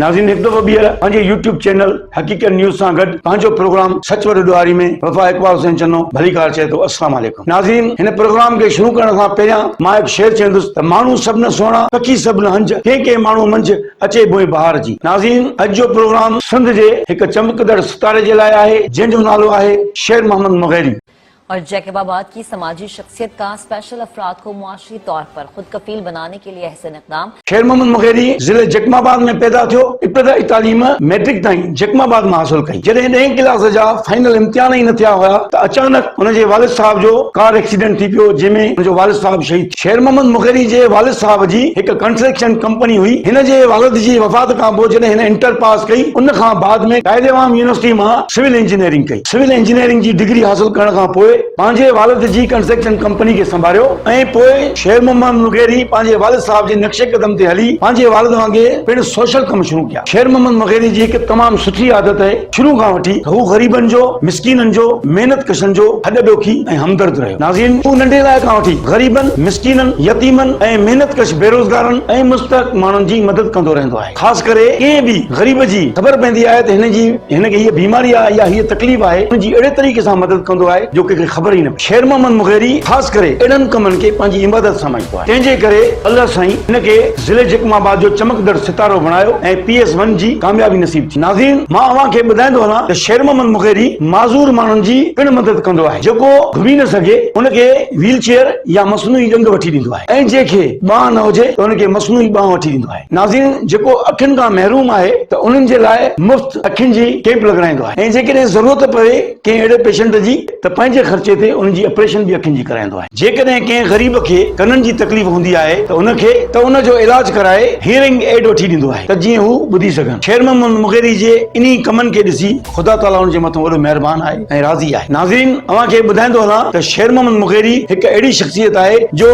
ناظرين هڪ دفعو ٻيهر پنهنجي يوٽيوب چينل حقيقت نيوز سان گڏ پنهنجو پروگرام سچ وڏو ڏوهاري ۾ وفا اقبال حسين چنو ڀليڪار چئي ٿو السلام عليڪم ناظرين هن پروگرام کي شروع ڪرڻ کان پهريان مان هڪ شعر چوندس ته ماڻهو سڀ نه سهڻا پکي سڀ نه هنج ڪنهن ڪنهن ماڻهو منجهه اچي ڀوئي بهار جي ناظرين اڄ جو پروگرام سنڌ جي هڪ چمڪندڙ ستاري جي لاء آهي جنهن جو نالو آهي شير محمد مغيري. اور جيڪب آباد ڪي سماجي شخصيت ڪا اسپيشل افراد ڪو معاشي طور پر خود ڪفيل بناني ڪي لي احسن اقدام. خير محمد مغيري ضلعي جيڪب آباد ۾ پيدا ٿيو، ابتدائي تعليم مئٽرڪ تائين جيڪب آباد مان حاصل ڪئي، جڏهن ڏهين ڪلاس جا فائنل امتحان ئي نه ٿيا هيا ته اچانڪ هن جي والد صاحب جو ڪار ايڪسيڊنٽ ٿي پيو جنهن ۾ هن جو والد صاحب شهيد ٿي ويو، خير محمد مغيري جي والد صاحب جي هڪ ڪنسٽرڪشن ڪمپني هئي، هن جي والد جي وفات کان پوء جڏهن هن انٽر پاس ڪئي ان کان بعد ۾ قائد عوام يونيورسٽي مان سول انجنيئرنگ ڪئي. سول انجنيئرنگ جي ڊگري حاصل ڪرڻ کان پوء پنهنجي والد جي ڪنسٽرڪشن ڪمپني کي سنڀاريو ۽ پوء شير محمد مغيري پنهنجي والد صاحب جي نقش قدم تي هلي پنهنجي والد وانگي پڻ سوشل ڪم شروع ڪيا. شير محمد مغيري جي هڪ تمام سٺي عادت هئي شروع کان وٺي ته هو غريبن جو، مسڪينن جو، محنت ڪشن جو هڏ ڏوکي ۽ همدرد رهيو. ناظرين هو ننڍي لاء کان وٺي غريبن، مسڪينن، يتيمن ۽ محنت ڪش بيروزگارن ۽ مستحق ماڻهن جي مدد ڪندو رهندو آهي. خاص ڪري ڪنهن به غريب جي خبر پوندي آهي ته هن جي هن کي هيء بيماري آهي يا هيء تڪليف آهي ان جي اهڙي طريقي سان مدد ڪندو آهي جو ڪنهن کي خبر ئي نه پوي شير محمد مغيري خاص ڪري اهڙن ڪمن کي پنهنجي عبادت سمجهندو آهي تنهن جي ڪري الله سائين هن کي ضلعي جڪم آباد جو چمڪندڙ ستارو بڻايو ۽ پي ايس ون جي ڪاميابي نصيب ٿي ناظرين مان اوهان کي ٻڌائيندو هلان ته شير محمد مغيري معذور ماڻهن جي پڻ مدد ڪندو آهي جيڪو گهمي نه سگهي ان کي ويل چيئر يا مصنوعي ڏنگ وٺي ڏيندو آهي ۽ جنهن کي ٻانهن نه هجي ته ان کي مصنوعي ٻانهن وٺي ڏيندو آهي. ناظرين جيڪو اکين کان محروم آهي ته انهن جي لاء مفت اکين جي ڪيمپ لڳرائيندو آهي ۽ جيڪڏهن ضرورت پوي ڪنهن اهڙي پيشنٽ جي ته پنهنجي خرچي تي انهن جي اپريشن به اکين جي ڪرائيندو آهي. جيڪڏهن ڪنهن غريب کي ڪنن جي تڪليف هوندي آهي ته ان کي ته ان جو علاج ڪرائي هيئرنگ ايڊ وٺي ڏيندو آهي ته جيئن هو ٻڌي سگهن. خيرمحمد مغيري جي انهي ڪمن کي ڏسي خدا تعاليٰ ان جي مٿان وڏو مهربان آهي ۽ راضي آهي. ناظرين اوهان کي ٻڌائيندو هلان ته شير محمد مغيري هڪ اهڙي شخصيت آهي جو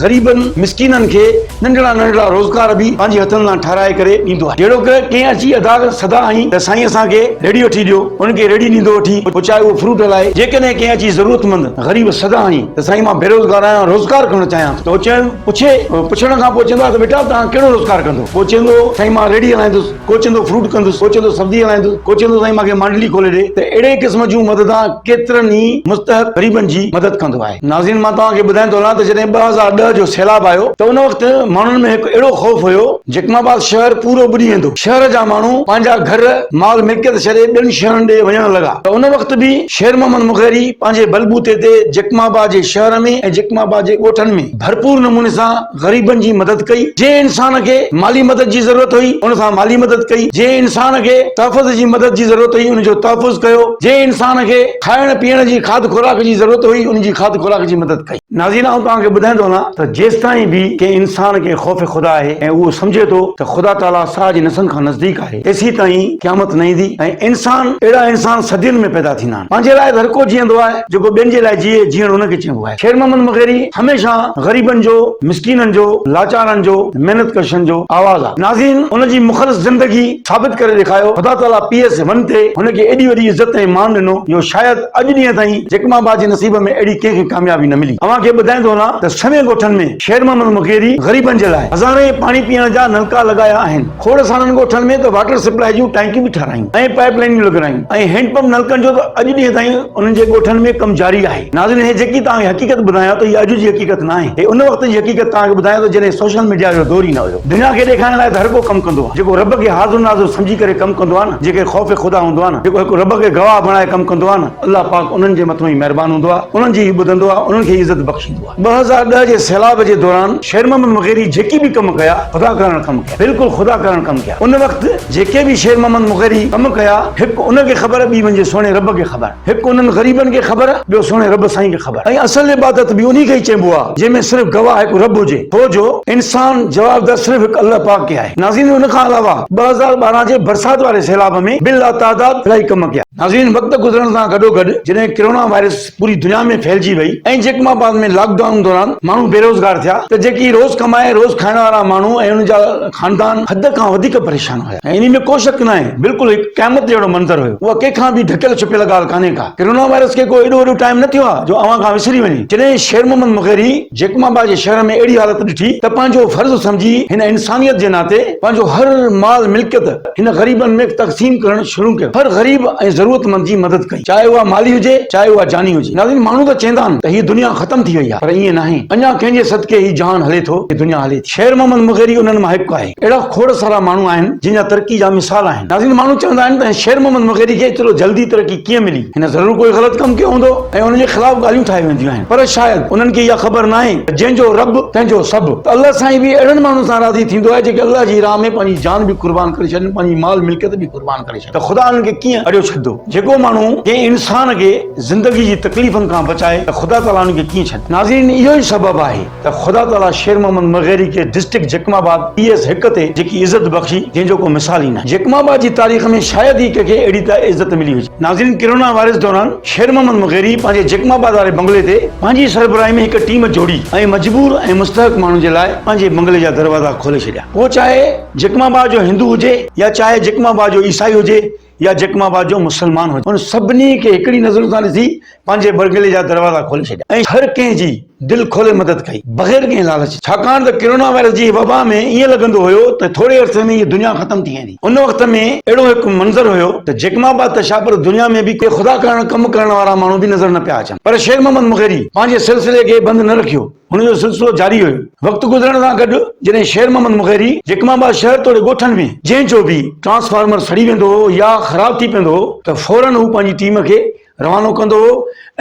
غريبن مسڪينن کي ننڍڙا ننڍڙا روزگار به پنهنجي هٿن سان ٺهرائي ڪري ڏيندو آهي جهڙوڪ ڪنهن اچي ادا سدا هنئي ته سائين اسان کي ريڙهي وٺي ڏيو ان کي ريڙهي ڏيندو وٺي پچائي اهو فروٽ هلائي جيڪڏهن ڪنهن اچي ضرورتمند غريب سدا هنئي ته سائين مان بيروزگار آهيان روزگار ڪرڻ چاهيان ٿو ته هو چئن پڇي پڇڻ کان پوء چوندو آهي ته بيٽا توهان ڪهڙو روزگار ڪندو پوء چوندو سائين مان ريڙهي هلائيندس. ڪو چوندو فروٽ ڪندس، ڪو چوندو سبزي هلائيندس، ڪو چوندو سائين مان کي مانڊلي کولي ڏي ته اهڙي قسم جون مددان ڪيترن ئي مستحق غريبن جي مدد ڪندو آهي. ناظرين مان توهان کي ٻڌائين ٿو هلان ته جڏهن ٻه هزار ڏهه جو سيلاب آيو ته ان وقت ماڻهن ۾ هڪ اهڙو خوف هيو جيڪم آباد شهر پورو ٻڏي ويندو شهر جا ماڻهو پنهنجا گهر مال ملڪيت ڇڏي ٻين شهرن ڏي وڃڻ لڳا ته ان وقت به شير محمد مغيري پنهنجي بلبوتي تي جيڪم آباد جي شهر ۾ ۽ جيڪم آباد جي ڳوٺن ۾ ڀرپور نموني سان غريبن جي مدد ڪئي، جنهن انسان کي مالي مدد جي ضرورت هئي، ان سان مالي مدد ڪئي، جنهن انسان کي تحفظ جي مدد جي ضرورت هئي، ان جو تحفظ ڪيو، جنهن انسان کي کائڻ پيئڻ جي کاڌ خوراڪ جي ضرورت هئي، ان جي کاڌ خوراڪ جي مدد ڪئي. ناظرين! آئون توهان کي ٻڌائيندو هلان ته جيستائين به ڪنهن انسان کي خوف خدا آهي ۽ اهو سمجهي ٿو ته خدا تعاليٰ ساهه جي نسن کان نزديڪ آهي، تيسيتائين قيامت نه ايندي ۽ انسان اهڙا انسان صدين ۾ پيدا ٿيندا آهن. پنهنجي لاء ته هر ڪو جيئندو آهي، جيڪو ٻين جي لاء جيئي، جيئڻ ان کي چئبو آهي. خير محمد مغيري هميشه غريبن جو، مسڪينن جو، لاچارن جو، محنت ڪشن جو آواز آ. ناظرين هن جي مخلص زندگي ثابت ڪري ڏيکايو. خدا تعاليٰ پي ايس ون تي هن کي ايڏي وڏي عزت ۽ مان ڏنو جو شايد اڄ ڏينهن تائين جيڪما آباد جي نصيب ۾ اهڙي ڪنهن کي ڪاميابي نه ملي. اوهان کي ٻڌائيندو هلان ته سوين ڳوٺن ۾ خير محمد مغيري غريبن جي لاء هزارين پاڻي پيئڻ جا نلڪا لڳايا آهن. کوڙ سارن ڳوٺن ۾ ته واٽر سپلائي جون ٽانڪيون به ٺارايون ۽ پائيپ لائينيون لڳرايون ۽ هينڊ پمپ نلڪن جو ته اڄ ڏينهن تائين انهن جي ڳوٺن ۾ ڪم جاري آهي. ناظرين هي جيڪي توهان کي حقيقت ٻڌايان ٿو هي اڄ جي حقيقت ناهي هي ان وقت جي حقيقت توهان کي ٻڌايان ٿو جڏهن سوشل ميڊيا جو دور ئي نه هيو دنيا کي ڏيکارڻ لاء ته هر ڪو ڪم ڪندو آهي جيڪو رب کي حاضر ناظر سمجهي ڪري ڪم ڪندو آهي نه جيڪي خوف خدا هوندو آهي نه جيڪو هڪ رب کي گواهه بڻائي ڪم ڪندو آهي نه الله پاڪ انهن جي مٿو ئي مهربان هوندو آهي انهن جي ئي ٻڌندو آهي انهن کي ئي عزت بخشيندو آهي ٻه هزار ڏهه جي سيلاب جي دوران شير محمد مغيري جيڪي به ڪم ڪيا خدا ڪرڻ ڪم ڪيا بلڪل خدا ڪرڻ ڪم ڪيا ان وقت جيڪي به شير محمد مغيري ڪم ڪيا هڪ ان کي خبر ٻي منهنجي سهڻي رب کي خبر. هڪ انهن غريبن کي خبر. ٻيو سهڻي رب سائين کي خبر. ۽ اصل عبادت به انهي کي ئي چئبو آهي جنهن ۾ صرف گواهه هڪ رب هجي ٿو جو. انسان جوابدار صرف هڪ الله پاڪ کي آهي. ناظرين ان کان علاوه ٻه هزار ٻارهن جي برسات واري سيلاب ۾ به لاتعداد الائي ڪم ڪيا. ناظرين وقت گذرڻ سان گڏوگڏ جڏهن ڪرونا وائرس پوري دنيا ۾ ڦهلجي وئي ۽ جيڪب آباد ۾ لاڪ ڊائون دوران ماڻهو بيروزگار ٿيا ته جيڪي روز ڪمائي روز کائڻ وارا ماڻهو ۽ انهن جا خاندان حد کان وڌيڪ پريشان هيا. ۽ انهي ۾ ڪو شڪ ناهي بلڪل هڪ قيامت جهڙو منظر هيو. اها ڪنهن کان به ڍڪيل ڇپيل ڳالهه ڪانهي ڪا. ڪرونا وائرس کي ڪو ايڏو وڏو ٽائيم نه ٿيو آهي جو اوهان کان وسري وڃي. جڏهن شير محمد مغيري جيڪب آباد جي شهر ۾ اهڙي حالت ڏٺي ته پنهنجو فرض سمجهي هن انسانيت جي ناتي پنهنجو هر مال ملڪيت هن غريبن ۾ تقسيم ڪرڻ شروع ڪيو. هر غريب ۽ ضرورت مند جي مدد ڪئي. چاهي اها مالي هجي چاهي اها جاني هجي. ناظرين ماڻهو ته چيندا آهن ته هي دنيا ختم ٿي وئي آهي پر ائين ناهي. اڃا ڪنهن جي صدقي هي جهان هلي ٿو هي دنيا هلي ٿي. شير محمد مغيري انهن مان هڪ آهي. اهڙا کوڙ سارا ماڻهو آهن جن جا ترقي جا مثال آهن ناظرين ماڻهو چوندا آهن ته شير محمد مغيري کي ايترو جلدي ترقي ڪيئن ملي هن ضرور ڪوئي غلط ڪم ڪيو هوندو ۽ ان جي خلاف ڳالهيون ٺاهي وينديون آهن پر شايد انهن کي اها خبر ناهي ته جنهن جو رب تنهن جو سڀ ته الله سائين به اهڙن ماڻهن سان راضي ٿيندو آهي جيڪي الله جي راهه ۾ پنهنجي جان به قربان ڪري ڇڏين پنهنجي مال ملڪيت به قربان ڪري ڇڏين ته خدا انهن کي ڪيئن اڙيو ڇڏندو جيڪو ماڻهو ڪنهن انسان کي زندگي جي تڪليفن کان بچائي ته خدا تعالي ان کي ڪيئن ڇڏندو ناظرين اهو ئي سبب آهي ته خدا تعاليٰ شير محمد مغيري کي district Jacobabad P S هڪ تي جيڪي عزت بخشي جنهن جو ڪو مثال ئي ناهي جيڪب آباد جي تاريخ ۾ شايد ئي ڪنهن کي اهڙي عزت ملي هجي. ناظرين ڪرونا وائرس دوران شير محمد مغيري پنهنجي جيڪب آباد واري بنگلي تي پنهنجي سربراهي ۾ هڪ ٽيم جوڙي ۽ مجبور ۽ مستحق ماڻهن جي لاء پنهنجي بنگلي جا دروازا کولي ڇڏيا پوء چاهي جيڪب آباد جو هندو هجي يا چاهي جيڪب آباد جو عيسائي هجي يا جيڪب آباد جو مسلمان هجي، هن سڀني کي هڪڙي نظر سان ڏسي پنهنجي بنگلي جا دروازا کولي ڇڏيا ۽ هر ڪنهن جي دل کولي مدد ڪئي، بغير ڪنهن لالچ جي. ڇاڪاڻ ته ڪرونا وائرس جي وبا ۾ ائين لڳندو هيو ته ٿوري عرصي ۾ هيء دنيا ختم ٿي ويندي. ان وقت ۾ اهڙو هڪ منظر هيو ته جيڪب آباد ته ڇا پر دنيا ۾ به ڪي خدا ڪرڻ ڪم ڪرڻ وارا ماڻهو به نظر نه پيا اچن. پر شير محمد مغيري پنهنجي سلسلي کي بند نه رکيو. هن جو سلسلو جاري هيو. وقت گذرڻ سان گڏ جڏهن شير محمد مغيري جيڪب آباد شهر توڙي ڳوٺن ۾ جنهن جو به ٽرانسفارمر سڙي ويندو هو يا خراب ٿي پيندو هو ته فورن هو پنهنجي ٽيم کي روانو ڪندو هو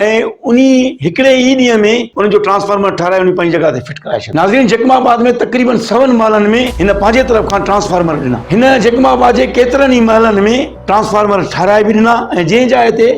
۽ انهي هڪڙي ئي ڏينهن ۾ ان جو ٽرانسفارمر ٺاهرائي انهي پنهنجي جڳهه تي فٽ ڪرائي ڇڏيو. ناظرين جيڪب آباد ۾ تقريبن سون محلن ۾ هن پنهنجي طرف کان ٽرانسفارمر ڏنا. هن جيڪب آباد جي ڪيترن ئي محلن ۾ ٽرانسفارمر ٺاهرائي به ڏنا ۽ جنهن جاء تي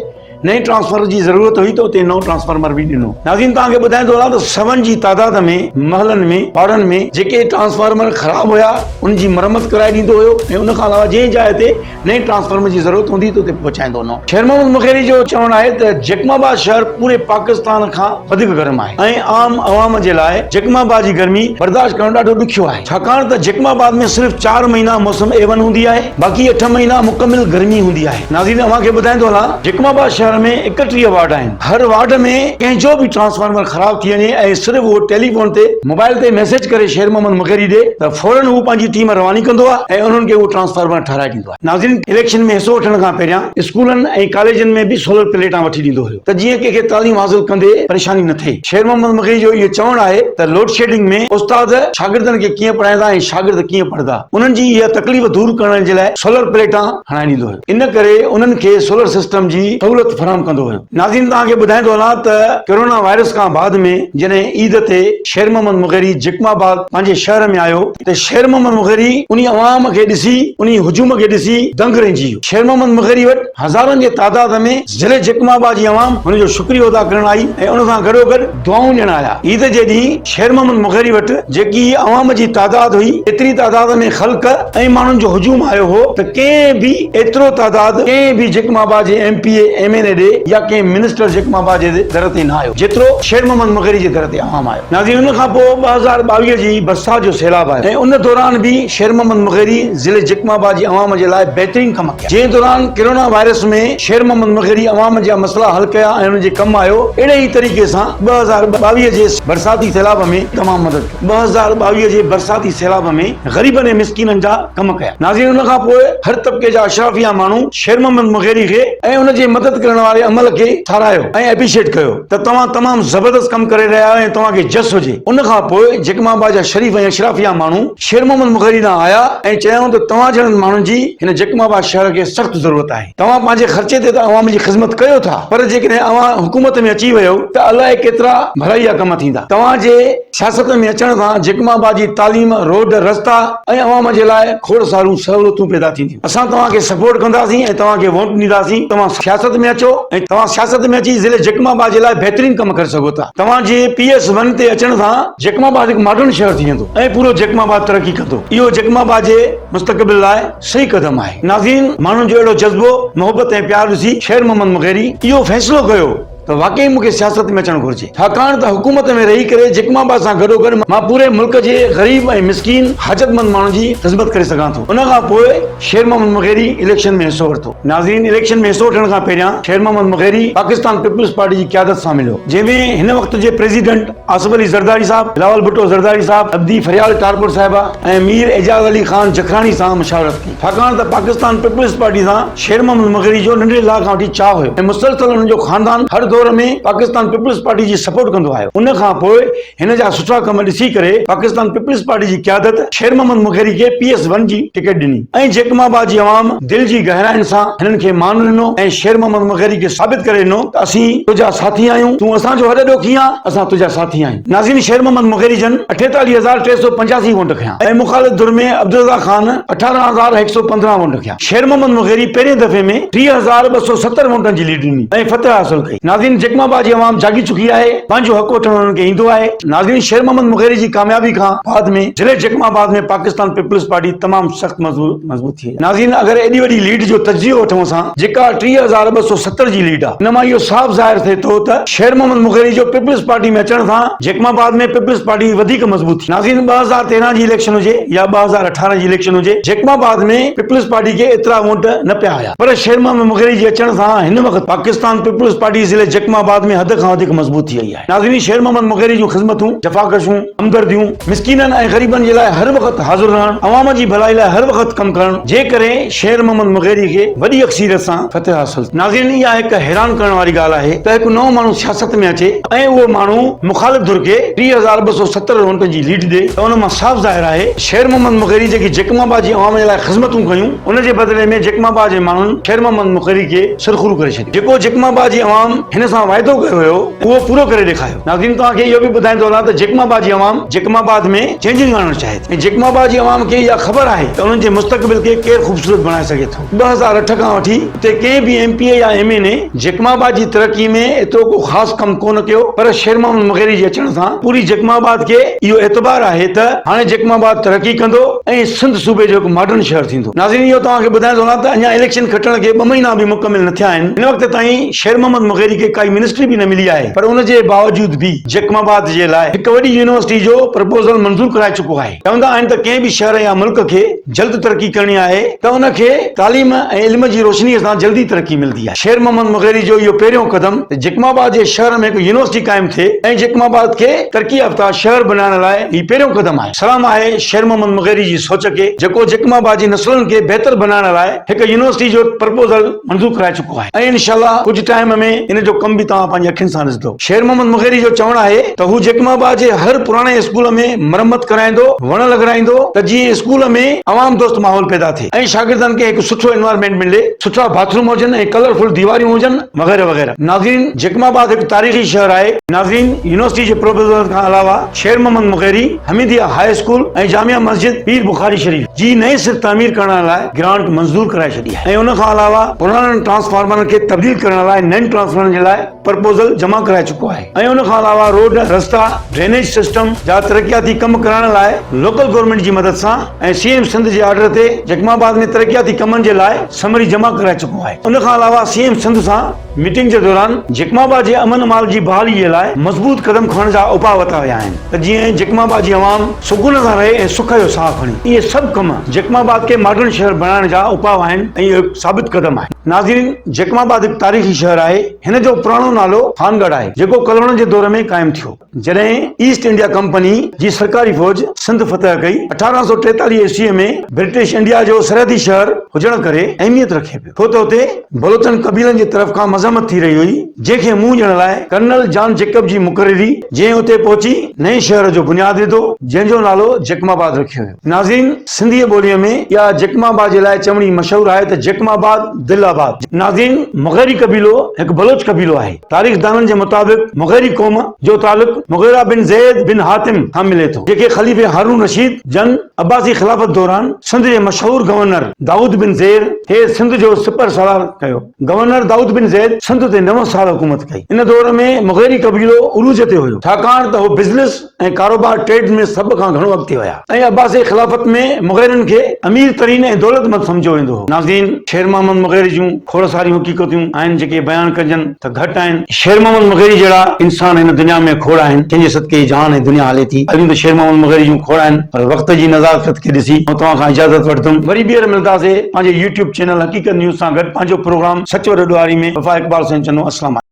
نئين ٽرانسفارمر جي ضرورت هئي ته اتي نئون ٽرانسفارمر به ڏنو. ناظرين توهان کي ٻڌائيندو هلان ته سون جي تعداد ۾ محلن ۾ پاڙن ۾ جيڪي ٽرانسفارمر خراب هيا ان جي مرمت ڪرائي ڏيندو هيو ۽ ان کان علاوه جنهن جاء تي نئين ٽرانسفارمر جي ضرورت هوندي هئي ته اتي پهچائيندو هلان. شير محمد مغيري جو چوڻ آهي ته جيڪب آباد شهر پوري پاڪستان کان وڌيڪ گرم آهي ۽ عام عوام جي لاء جيڪب آباد جي گرمي برداشت ڪرڻ ڏاڍو ڏکيو آهي ڇاڪاڻ ته جيڪب آباد ۾ صرف چار مهينا موسم اي ون هوندي آهي باقي اٺ مهينا مڪمل گرمي هوندي آهي. ناظرين اوهان کي ٻڌائين ٿو هلان جيڪب آباد شهر ۾ ايڪٽيهه وارڊ آهن هر وارڊ ۾ ڪنهن جو به ٽرانسفارمر خراب ٿي وڃي ۽ صرف اهو ٽيليفون تي موبائل تي ميسيج ڪري شير محمد مغيري ڏي ته فورن هو پنهنجي ٽيم رواني ڪندو آهي ۽ انهن کي اهو ٽرانسفارمر ٺهرائي ڏيندو آهي ناظرين اليڪشن ۾ حصو وٺڻ کان پهريان اسڪولن ۽ ڪاليجن ۾ به سولر پليٽان وٺي ڏيندو هيو ته جيئن ڪنهن کي تعليم حاصل ڪندي پريشاني نه ٿئي شير محمد مغيري جو اهو چوڻ آهي ته لوڊشيڊنگ ۾ استاد شاگردن کي ڪيئن پڙهائيندا ۽ شاگرد ڪيئن پڙهندا انهن جي اها تڪليف دور ڪرڻ جي لاء سولر پليٽان هڻائي ڏيندو هيو، ان ڪري انهن کي سولر سسٽم جي سهولت فراهم ڪندو هيو. ناظرين توهان کي ٻڌائيندو هلان ته ڪرونا وائرس کان بعد ۾ جڏهن عيد تي شير محمد مغيري جيڪب آباد پنهنجي شهر ۾ آيو ته شير محمد مغيري انهي عوام کي ڏسي انهي هجوم کي ڏسي دنگ رهجي ويو. شير محمد مغيري وٽ هزارن جي تعداد ۾ ضلعي جيڪب آباد جي عوام هن جو شڪريو ادا ڪرڻ آئي ۽ ان سان گڏوگڏ دعائون ڏيڻ آيا. عيد جي ڏينهن شير محمد مغيري وٽ جيڪي عوام جي تعداد هئي، ايتري تعداد ۾ خلق ۽ ماڻهن جو هجوم آيو هو ته ڪنهن به ايترو تعداد ڪنهن به جيڪم آباد جي M P A, M N A ڏي يا ڪنهن منسٽر جيڪم آباد جي در تي نه آيو، جيترو شير محمد مغيري جي در تي عوام آيو. ناظرين ان کان پوء ٻه هزار ٻاويهه جي برسات جو سيلاب آيو ۽ ان دوران به شير محمد مغيري ضلعي جيڪم آباد جي عوام جي لاء بهترين ڪم ڪيا. جنهن دوران ڪرونا وائرس ۾ شير محمد مغري عوام جا مسئلا حل ڪيا ۽ انهن جي ڪم آيو، اهڙي ئي طريقي سان ٻه هزار ٻاويهه جي برساتي سيلاب ۾ تمام مدد ڪئي. ٻه هزار ٻاويهه جي برساتي سيلاب ۾ غريبن ۽ مسڪينن جا ڪم ڪيا. ناظرين ان کان پوء هر طبقي جا اشرافيا ماڻهو شير محمد مغيري کي ۽ ان جي مدد ڪرڻ واري عمل کي ساراهيو ۽ ايپريشيٽ ڪيو ته توهان تمام زبردست ڪم ڪري رهيا آهيو ۽ توهان کي جس هجي. ان کان پوء جيڪب آباد جا شريف ۽ اشرافيا ماڻهو. شير محمد مغري ڏانهن آيا ۽ چيائون ته توهان جهڙن ماڻهن جي هن جڪم آباد شهر کي سخت ضرورت آهي. توهان پنهنجي خرچي تي ته عوام جي خذمت ڪيو ٿا پر جيڪڏهن اوهان حڪومت ۾ اچي ويو ته الائي ڪيترا ڀلائيء ڪم ٿيندا. توهان جي سياست ۾ اچڻ سان جڪم آباد جي تعليم، روڊ، رستا ۽ عوام جي لاء کوڙ ساريون سهولتون پيدا ٿينديون. اسان توهان کي سپورٽ ڪنداسين ۽ توهان کي ووٽ ڏينداسين. توهان سياست ۾ اچو ۽ توهان سياست ۾ اچي ضلعي جڪم آباد جي لاء بهترين ڪم ڪري سگهو ٿا. توهان جي پي ايس ون تي اچڻ سان. جيڪب آباد هڪ ماڊرن شهر ٿي ويندو ۽ پورو جيڪب آباد ترقي ڪندو اهو جيڪب آباد جي مستقبل لاء صحيح قدم آهي ناظرين ماڻهن جو اهڙو جذبو محبت ۽ پيار ڏسي شير محمد مغيري اهو فيصلو ڪيو ته واقعي مون کي سياست ۾ اچڻ گهرجي ڇاڪاڻ ته حڪومت ۾ رهي ڪري جيڪب آباد سان گڏوگڏ مان پوري ملڪ جي غريب ۽ مسڪين حاجتمند ماڻهن جي خدمت ڪري سگهان ٿو ان کان پوء شير محمد مغيري اليڪشن ۾ حصو ورتو ناظرين اليڪشن ۾ حصو وٺڻ کان پهريان شير محمد مغيري پاڪستان پيپلز پارٽي جي قيادت سان مليو جنهن ۾ هن وقت جي پريزيڊنٽ آصف علي زرداري صاحب، بلاول ڀٽو زرداري صاحب، ابدي فريال ٽارپر صاحبه ۽ مير اعجاز علي خان جکراڻي سان مشاورت ڪئي، ڇاڪاڻ ته پاڪستان پيپلز پارٽي سان شير محمد مغري جو ننڍڙي لاء کان وٺي چاهه هيو ۽ مسلسل هن جو خاندان هر دور ۾ پاڪستان پيپلز پارٽي جي سپورٽ ڪندو آيو. ان کان پوء هن جا سٺا ڪم ڏسي ڪري پاڪستان پيپلز پارٽي جي قيادت شير محمد مغري کي پي ايس ون جي ٽڪيٽ ڏني ۽ جيڪب آباد جي عوام دل جي گهراين سان هنن کي مان ڏنو ۽ شير محمد مغري کي ثابت ڪري ڏنو ته اسين تنهنجا ساٿي آهيون، تون اسان جو هڏ ڏوکي آن، اسان تنهنجا ساٿي آهيون. نازين شير محمد مغري جن اٺيتاليهه هزار ٽي سؤ پنجاسي وونٽ کنيا ۽ مخالف ڌر ۾ عبدالرضا خان اٺارهن هزار هڪ سؤ پندرهن وونٽ کنيا. شير محمد مغري پهرين دفعي ۾ ٽيهه هزار ٻه سؤ ستر وونٽن جي ليڊ ڏني ۽ فتح حاصل ڪئي. نازين جيڪب آباد جي عوام جاڳي چڪي آهي، پنهنجو حق وٺڻ هنن کي ايندو آهي. نازين شير محمد مغري جي ڪاميابي کان بعد ۾ ضلعي Jacobabad ۾ Pakistan peoples Party تمام سخت مضبوط. مضبوط ٿئي. ناظرين اگر ايڏي وڏي ليڊ جو تجزيو وٺون اسان جيڪا ٽيهه هزار ٻه سؤ ستر جي ليڊ آ ان مان اهو صاف ظاهر ٿئي ٿو ته شير محمد مغيري جو پيپلز پارٽي ۾ اچڻ سان جيڪب آباد ۾ پيپلز پارٽي وڌيڪ مضبوط ٿي ناظرين ٻه هزار تيرهن جي اليڪشن هجي يا ٻه هزار اٺارهن جي اليڪشن هجي جيڪب آباد ۾ پيپلز پارٽي کي ايترا وونٽ نه پيا آيا پر شير محمد مغيري جي اچڻ سان هن وقت پاڪستان پيپلز پارٽي ضلعي جيڪب آباد ۾ حد کان وڌيڪ مضبوط ٿي وئي آهي. نازنين شير محمد مغيري جون خذمتون، جفاڪشون، همدرديون، مسڪينن ۽ غريبن جي لاء هر وقت حاضر رهڻ، عوام جي ڀلائي لاء هر وقت ڪم ڪرڻ جي ڪري شير محمد مغيري کي وڏي اڪثيريت سان فتح حاصل ٿي. ناظرين اها هڪ حيران ڪرڻ واري ڳالهه آهي ته هڪ نئون ماڻهو سياست ۾ اچي ۽ اهو ماڻهو مخالف ڌر کي ٽي هزار ٻه سؤ ستر رهونٽن جي ليڊ ڏي ته ان مان صاف ظاهر آهي ته شير محمد مغيري جيڪي جيڪب آباد جي عوام جي لاء خذمتون ڪيون ان جي بدلي ۾ جيڪب آباد جي ماڻهن شير محمد مغيري کي سرخرو ڪري ڇڏيو. جيڪو جيڪم آباد جي عوام هن سان واعدو ڪيو هيو اهو پورو ڪري ڏيکاريو ناظرين توهان کي اهو به ٻڌائيندو هلان ته جيڪم آباد جي عوام جيڪم آباد ۾ چينجنگ آڻڻ چاهي ٿي ۽ جيڪم آباد جي عوام کي اها خبر آهي ته انهن جي مستقبل کي ڪير خوبصورت بڻائي سگهي ٿو ٻه هزار اٺ کان وٺي اتي ڪنهن به ايم پي اي يا M N A Jacobabad جي ترقي ۾ ايترو ڪو خاص ڪم ڪونه ڪيو پر شير محمد مغيري جي اچڻ سان پوري جيڪم آباد کي اهو اعتبار آهي ته هاڻي جيڪم آباد ترقي ڪندو ۽ سنڌ صوبي جو هڪ ماڊرن شهر ٿيندو. ٿو. ناظرين اهو توهان کي ٻڌائڻ ٿو لان ته اڃا اليڪشن کٽڻ کي ٻه مهينا به مڪمل نه ٿيا آهن، هن وقت تائين شير محمد مغيري کي ڪائي منسٽري به نه ملي آهي پر ان جي باوجود به جيڪب آباد جي لاء هڪ وڏي يونيورسٽي جو پرپوزل منظور ڪرائي چڪو آهي، چوندا آهن ته ڪنهن به شهر يا ملڪ کي جلد ترقي ڪرڻي آهي ته ان کي تعليم ۽ علم جي روشني سان جلدي ترقي ملدي آهي، شير محمد مغيري جو اهو پهريون قدم ته جيڪب آباد جي شهر ۾ هڪ يونيورسٽي قائم ٿئي ۽ جيڪب آباد کي ترقي يافته شهر بنائڻ لاء هي پهريون قدم آهي. سلام آهي شير محمد مغيري جي سوچ کي جيڪو جيڪماباجي نسلن کي بهتر بنائڻ لاء هڪ يونيورسٽي جو پرپوزل منظور ڪرائي چڪو آهي ۽ انشاء الله ڪجهه ٽائيم ۾ ان جو ڪم به توهان پنهنجي اکين سان ڏسندو شير محمد مغيري جو چوڻ آهي ته هو جيڪمابا جي هر پراڻي اسڪول ۾ مرمت ڪرائيندو وڻ لڳرائيندو ته جيئن اسڪول ۾ عوام دوست ماحول پيدا ٿئي ۽ شاگردن کي هڪ سٺو انوائرمينٽ ملي سٺا باٿروم هجن ۽ ڪلر فل ديواريون هجن وغيره وغيره ناظرين جيڪماباد هڪ تاريخي شهر آهي ناظرين يونيورسٽي جي پروپوزل کان علاوه شير محمد مغيري حميديه هاء اسڪول ۽ جامع مسجد پير بخاري شريف جي نئين سر تعمير ڪرڻ لاء گرانٽ منظور ڪرائي ڇڏي آهي ۽ ان کان علاوه پراڻن ٽرانسفارمرن کي تبديل ڪرڻ لاء نئن ٽرانسفارمرن جي لاء پرپوزل جمع ڪرائي چڪو آهي ۽ ان کان علاوه روڊ رستا ڊرينيج سسٽم جا ترقياتي ڪم ڪرائڻ لاء لوڪل گورنمينٽ جي مدد سان ۽ سي ايم سنڌ جي آرڊر تي جيڪب آباد ۾ ترقياتي ڪمن جي لاء سمري جمع ڪرائي چڪو آهي ان کان علاوه سي ايم سنڌ سان ميٽنگ جي دوران جيڪم آباد جي امن امان جي بحالي جي لاء مضبوط قدم کڻڻ جا اپاء ورتا ويا آهن ته جيئن جيڪم آباد جي عوام سڪون سان رهي ۽ سک جو ساهه کڻي اهي سڀ ڪم جيڪم آباد کي ماڊرن شهر بڻائڻ جا اپاء آهن ۽ اهو هڪ ثابت قدم آهي. ناظرين جيڪم آباد هڪ تاريخي شهر آهي هن جو پراڻو نالو خانگڙھ آهي جيڪو ڪلهوڙن جي دور ۾ قائم ٿيو. جڏهن ايسٽ انڊيا ڪمپني جي سرڪاري فوج سنڌ فتح ڪئي، اٺارهن سؤ ٽيتاليهه عيسويء ۾ برٽش انڊيا جو سرحدي شهر هجڻ ڪري اهميت رکي پيو، ڇو ته اتي بلوچن قبيلن جي طرف کان مذمت ٿي رهي هئي، جنهن کي منهن ڏيڻ لاء ڪرنل جان جيڪب جي مقرري، جنهن اتي پهچي نئين شهر جو بنياد وڌو، جنهن جو نالو جيڪم آباد رکيو ويو. ناظرين! سنڌيء ٻوليء ۾ اها جيڪم آباد جي لاء چوڻي مشهور آهي ته جيڪم آباد، دل آباد. ناظرين! مغيري قبيلو هڪ بلوچ قبيلو آهي. تاريخدانن جي مطابق مغيري قوم جو تعلق مغيره بن زيد بن حاتم کان ملي ٿو جيڪي خليفي هارون رشيد جن عباسي خلافت دوران سنڌ جي مشهور گورنر دائود بن زير کي سنڌ جو سپهر سالار ڪيو. گورنر دائود بن زيد سنڌ تي نو سال حڪومت ڪئي. ان دور ۾ مغيري قبيلو عروج تي هيو ڇاڪاڻ ته هو بزنس ۽ ڪاروبار، Trade، ۾ سڀ کان گهڻو اڳتي ويا ۽ عباسي خلافت ۾ مغيرن کي امير ترين ۽ دولتمند سمجهيو ويندو هو. ناظرين! شير محمد مغيري جون کوڙ ساريون حقيقتون آهن جيڪي بيان ڪجن ته گهٽ آهن. شير محمد مغيري جهڙا انسان هن دنيا ۾ کوڙ آهن جن جي صدقي هي جهان ۽ دنيا هلي ٿي. ڳالهيون ته شير محمد مغيري جون کوڙ آهن پر وقت جي نزاڪت کي ڏسي آئون توهان کان اجازت وٺندم. وري ٻيهر ملداسي پنهنجي يوٽيوب چينل حقيقت نيوز سان گڏ پنهنجو پروگرام سچ وڏو ڏوهاري ۾ وفا اقبال سائين چندو السلام عليڪم.